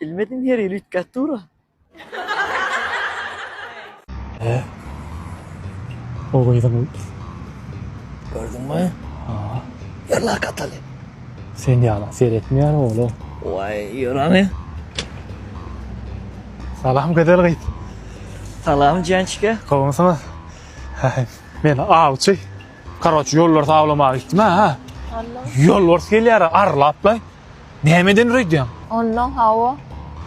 Bilmedim her ýyl üýtgäp dura. He. O gyzyň Gördüňmi? Ha. Ýerler kataly. Sen ýala seretmeýär ola. Waý, ýörene. Salam gözel gyz. Salam Jançka. Gowumysyňyz? Men awçy. Karoç ýolbars awlamaga gitdim ha. Ýolbars gelýär arlap-laý. Nämeden üreýdýäň? Ondan hawa.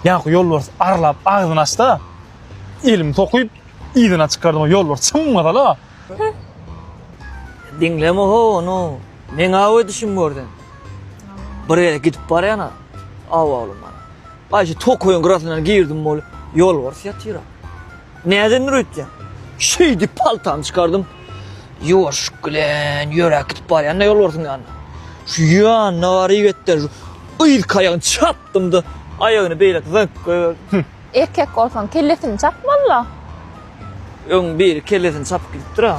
Ýaňky ýolbars arlap agzyny açda, elimi sokup, yzyna çykardym, ýolbars çyňňasala. Diňleme-how ony, meň-ä ödüşim gör sen. Bir ýere gidip barýan-a, aw oglum, gaýşy tokaýyň gyrasyndan girdim wol, ýolbars ýatyr-a. Näden nur etýäň? Şeýdip paltany çykardym. Ýuwaşlyk bilen ýöräp gidip barýan-da ýolbarsyň ýanyna. Şu ýanyna baryp etden şu yzky aýagyny çapdym-da, aýagyny beýläk zyňyp goýberdim. Erkek bolsaň, kellesini çap molla. Öň biri kellesini çapyp gidipdir-ä.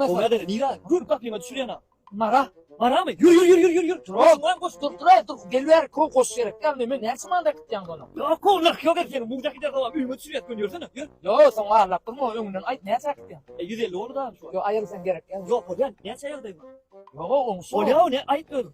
Gowerdir, nirä? Gür gapyma düşürýän-a. Mara, maramy? Ýür, ýür, ýür, ýür, ýür, ýür. Turan, turan, goş, dur, turaý, dur, gel bäri, kow, goş gerek däl, men, men näçe many äkitýäň muny? Ýok, kow, nyrh ýok erkegiň, muňda gider gowam, öýüňe düşür ýat, gön, ýörsene, ýör. Ýo, soň arlap durma, öňünden aýt, näçe äkitýäň? E, ýüz elli boldy-da, şu wagt. Ýo, aýyrysam gerek däl. Ýok, bolýan, näçä ýagdaý bar? Ýo, oňşy. Bolýa, ony aýt özüň.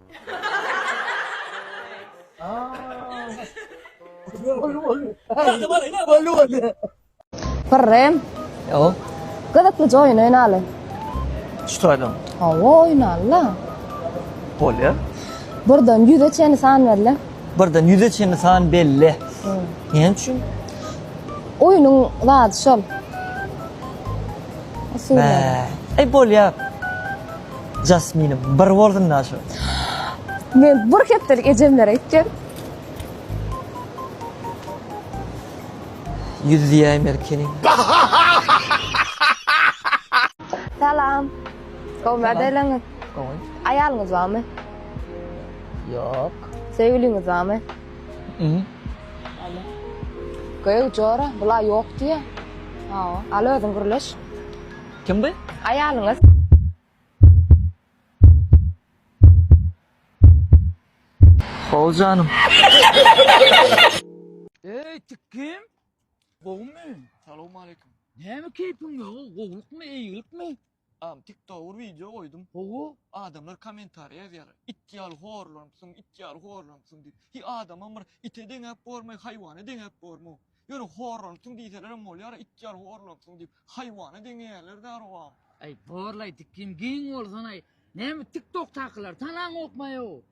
Pyrrym. Ýo. Gyzyklyja oýun oýnaly. Şu taýdan. Hawa oýnala. Bolýar. Birden 100-e çenli san berle. Birden 100-e çenli san belle. Näme üçin? Oýnuň zady şol. Usuly. Ey bolýar. Jasminim bir bolsun da şu. Men bir hepdelik ejemlere gitdim. Ýüz diýäýim erkeniň. Salam. Gowy mädeleňiz. Gowy. Aýalyňyz barmy? Ýok. Söýgüliňiz barmy? Ýok. Göýä jora, bula ýok diýýä. Hawa. Al özüň gürleş. Kim bu? Aýalyňyz. Sag bol janym. Eý, tik kim? Gowumy? Salowmaleýkim. Näme keýpiň ýok? Gowulykmy, eýgilikmi? Agam TikTok bir wideo goýdum. Gowy. Adamlar kommentariýa ýazýarlar. It ýaly horlanupsyň, it ýaly horlanupsyň diýip. Hi adamam bir ite deňäp bormy, haýwana deňäp bormy? Ýöne horlansyň diýselerem bolýar-a, it ýaly horlansyň diýip, haýwana deňeýärler-dä arwaham. Aý borlaý dikim giň bolsanaý näme tik tokdakylar tanaňokmaýow.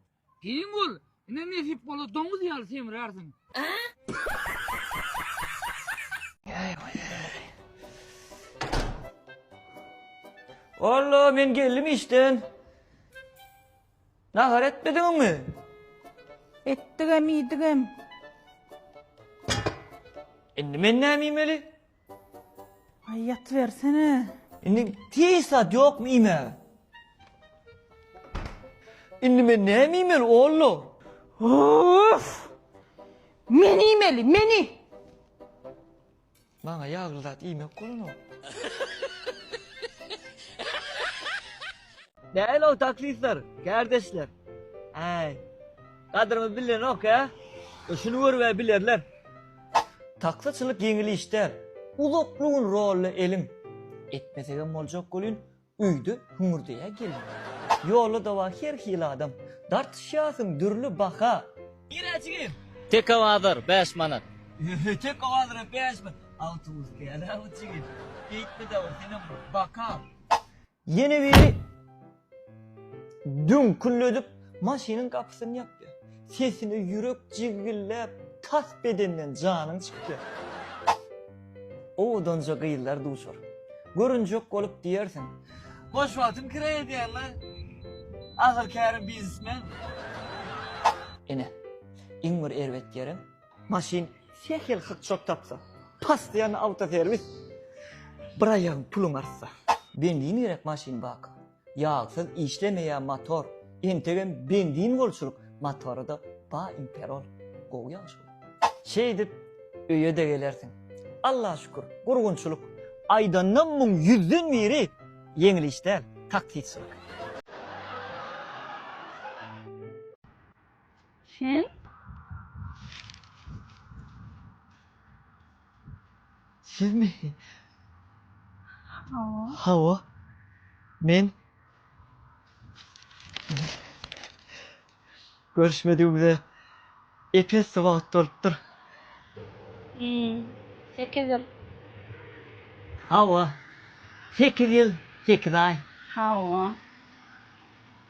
Giň bol, ine nesip bola doňuz ýaly semrärsiň. Alla men geldim işden. Nahar etmediňmi? Etdigem, iýdigem. Indi men näme iýmeli? Aý, ýatybersene. Indi hiç zat ýokmy iýmäge? Indi men näme iýmeli, oglum? Of! Men iýmeli, meni! Maňa ýagly zat iýmek bolanok. Däl ol taklistler, kärdeşler. Äý. Gadyrymy bilenok-ä. Şuny görüp-ä bilerler. Taksyçylyk ýeňil iş däl. Uzakly gün rolla elin. Etmesegem boljak welin, Öýde hüňürdeýä gelin. Ýolda dawa her hili adam. Dartyşýarsyň dürli baha. Nirä jigim? Tek owazlar bäş manat. Öhöý tek owazlara bäş manat. Awtobus däl-ä bu jigim. Beýtme dawa senem baka. Ýene biri düňküldedip maşynyň gapysyny ýapýar. Sesine ýürek jigilläp tas bedenden janyň çykýar. Owadanja gyzlar duçar. Görünjek bolup diýersiň. Boş wagtym kire edýän la. Ahyr kärim biznesmen. Ine, iň bir erbet ýerim. Maşyn sähel hykçak tapsa. Pas diýen awtoserwis. Bir aýagyň puluň artsa. Benzin gerek maşyn baka. Ýagsyz işlemeýä mator. Entegem benzin bolçulyk matoryda ba imperol. Gowy ýagşy bol. Şeýdip öýede gelersiň. Alla şükür gurgunçylyk. Aýdanda muň ýüzden biri ýeňil iş däl, taksiçilik. Sen Sizmi? Hawa. Hawa. Men görüşmedigimize epesli wagt bolupdyr. Hmm. Sekiz ýyl. Hawa. Sekiz ýyl, sekiz aý. Hawa.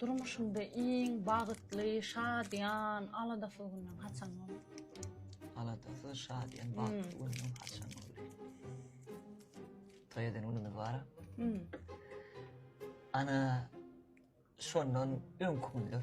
Durmuşyňda iň bagytly, şadyýan, aladasyz günüň haçan boldy? Aladasyz, şadyýan, bagtly günümiň haçan boldy? Toý eden günümiz bara. Ana, şondan öňki günler.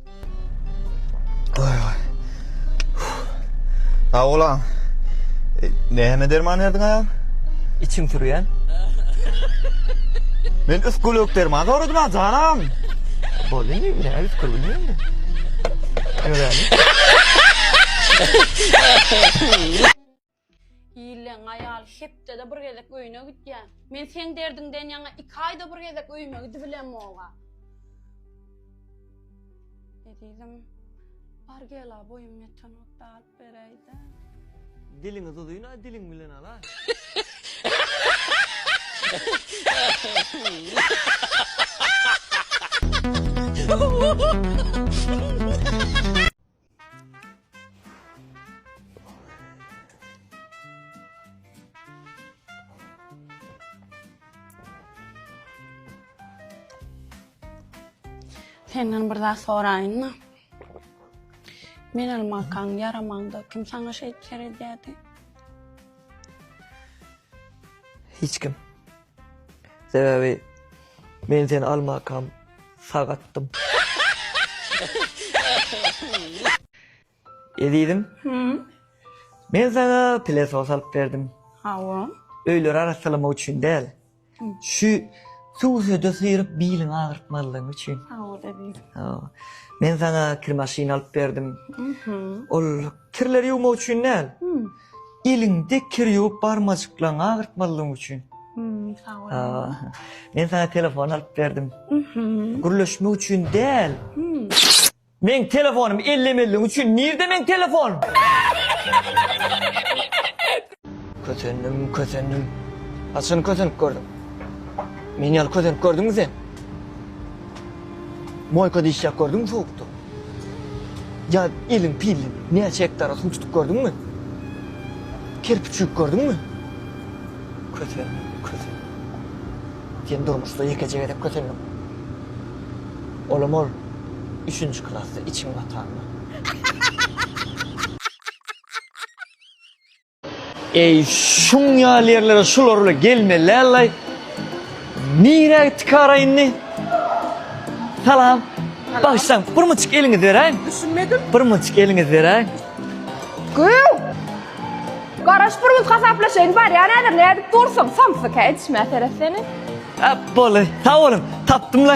Sag bolaň. Näme derman berdiň aýam? Içim sürýän. Men üsgülük derman soradym ha janam. Boldy indi, näme üsgül bilmeýin. Ýöräýin. Ýylyň aýaly hepdede bir gezek öýüne gidýä. Men seň derdiňden ýaňa iki aýda bir gezek öýüme gidibilemog-a. Ezizim, bar gel-a, boýum ýetenokda alyp beräý-dä. Diliňiz uzyn-a, diliň bilen al-a. Senden bir zat soraýynmy? Men almakaň ýaramanda kim saňa şeýt seredýärdi? Hiç kim. Sebäbi men seni almakam sag atdym. Ezizim. Men saňa pilesos alyp berdim. Hawa. Öýleri arassalamak üçin däl. Şu suw-söde syryp biliňi agyrtmazlygyň üçin. Hawa ezizim. Hawa. Men saňa kir maşyny alyp berdim. Ol kirleri ýuwmak üçin däl. Eliňde kir ýuwup barmajyklaňy agyrtmazlygyň üçin. Sag bol. Men saňa telefon alyp berdim. Gürleşmek üçin däl. Meň telefonumy ellemezligiň üçin nirde meň telefonym? Kösendim, kösendim. Haçan kösenip gördüň? Meni ýaly kösenip gördüňmi sen? Boýka diýişýäk gördüňmi sowukda. Ýa eliň pilli näçe hektara suw tutup gördüňmi? Kerpiç üýüp gördüňmi? Kösenme, kösen. Sen durmuşda ýekeje gezek kösendiň. Olam ol üçünji klasda içiň batanda. Eý şuň ýaly ýerlere şular bile gelmelälay. Nirä gitdi kara indi? Salam. Bagşam, bir muçuk eliňi beräň. Düşünmedim. Bir muçuk eliňi beräň. Güw! Garaş bir muz hasaplaşaýyn bar ýa näder ne edip dursun samsy keçme seret seni. Hep bolu. Sag bolun. Tapdym la.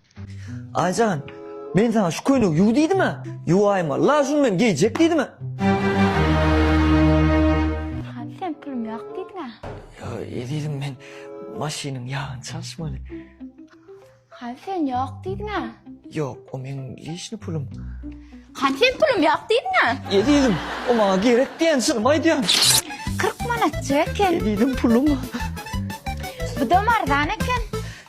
Aýjan, men saňa şu köýnegi ýuw diýdim-ä. Ýuwaýma, la şuny men geýjek diýdim-ä. Hany sen pulum ýok diýdiň-ä. Ýa, ezizim men maşynyň ýagyny çalyşmaly. Hany sen ýok diýdiň-ä. Ýok, o meň leşni pulum. Hany sen pulum ýok diýdiň-ä. Ezizim, o maňa gerek diýen çynymy aýdýan. Kyrk manatjyk eken. Ezizim pulum. Bu-dam arzan eken.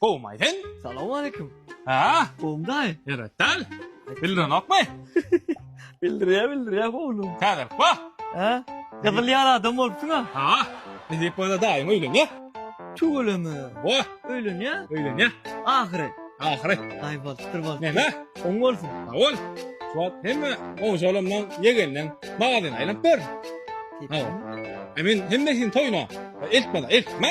Gowumaý sen? Salam aleýkum. Haa? Gowum daýy. Ýöret däl. Bildirenokmy? Bildirýä bildirýä gowlum. Täzelik ba? Hä? Gyzyl ýar adam bolupsyň-a. Haa. Edip bolsa daýyň öýlenýä. Tüweleme. Bo. Öýlenýä? Öýlenýä. Ahyry. Ahyry. Daýy bolupdyr bol. Näme? Oň bolsun. Sag bol. Şu wagt hemme goňşy olamdan ýegenleň magazyna aýlanyp ber. Hawa. E men hemmesini toýuna eltmeda eltme.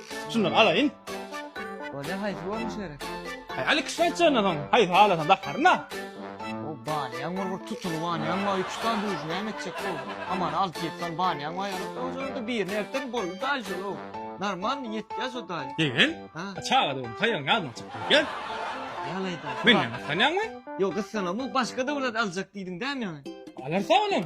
Şundan alaýyn. Bolýa haýsy bolmuş gerek? Haý aly kişi aýtjana soň haýsy halasan dakarna. O banýaň bir bir tutuly banýaň bar üç sany duýuş näme etjek bu. Hamana alty ýedi sany banýaň bar ýaly bolsa birini ertdir boldy daýy şolau. Normalny ýetýä şo daýy. Degen? Ha. Çaga döwüm taýagyň ýadyna çykdy gel. Ýalaý daýy. Menden gyssanýaňmy? Ýok gyssanamok başga döwlet aljak diýdiň dämi ýaňy? Alarsa olam.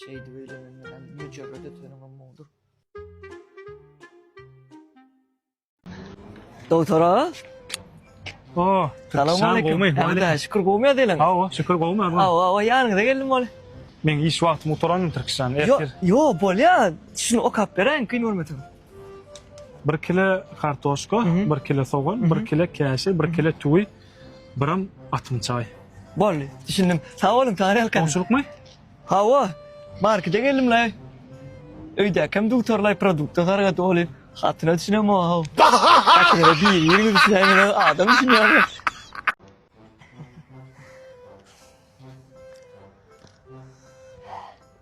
Şeýdip öýlenenler hem müjerret etenim mundur. Dogtora. O, salam aleyküm. Hemde şükür gowmy ýadelen? Hawa, şükür gowmy ýadelen? Hawa, hawa, ýanyňyza geldim bol. Men iş wagtym gutaran Türkistan. Yo, yo, bolýar. Şuny okap beräýiň, kyn görmeseň. 1 kilo kartoşka, 1 kilo sogan, 1 kilo käşe, 1 kilo tüwi. Biram atym çaý. Boldy, düşündim. Sag boluň, tarelka. Goňşulykmy? Hawa, markete geldim-laý. Öýdäkem dugtarlaý produkta sarga doly. Hatyna düşünemog-ow. Hatynyňa biri-biriňiz düşünäýmeseniz, adam düşünýärmi?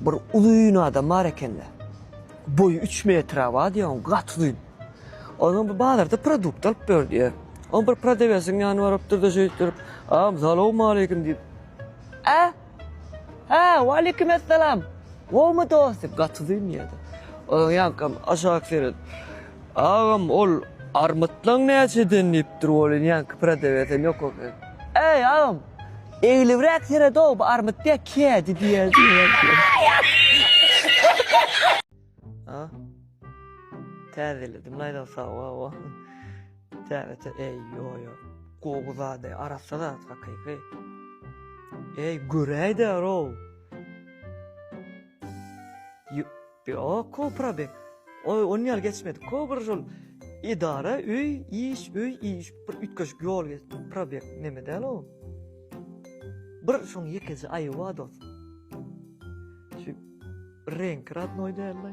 Bir uzyn adam bar ekende. Boýy üç metre bar diýýär, onuň gaty uzyn. Onam bir bazarda produkt alyp ber diýýär. Onam bir prodawesiň ýanyna barypdyr-da şeýdip durup, Agam, salawmaleýkim diýip. Hä? Hä, waleýkimessalam! Gowumy dost diýip, gaty uzyn diýýär-de. Onam ýaňkam aşak seredip, Agam, ol armytlaň näçeden diýipdir, welin ýaňky prodawesem ýok eken. Äý, agam! Eglibräk seredow bu armyt diýä kädi diýä. A Täzeledim laýda sawa wa. Täze eý ýoýo. Gowy zady arassa zat hakyky. Eý göräýdä row. Ýo, ko probe. Oý, on ýaly geçmedi. Ko bir şol edara, öý, iş, öý, iş, bir üýtgeşik ýol geçdi. Probek neme däl o. Bir şoň ýekeje aýyby bar dos. Şu reňki radnoý däl-le.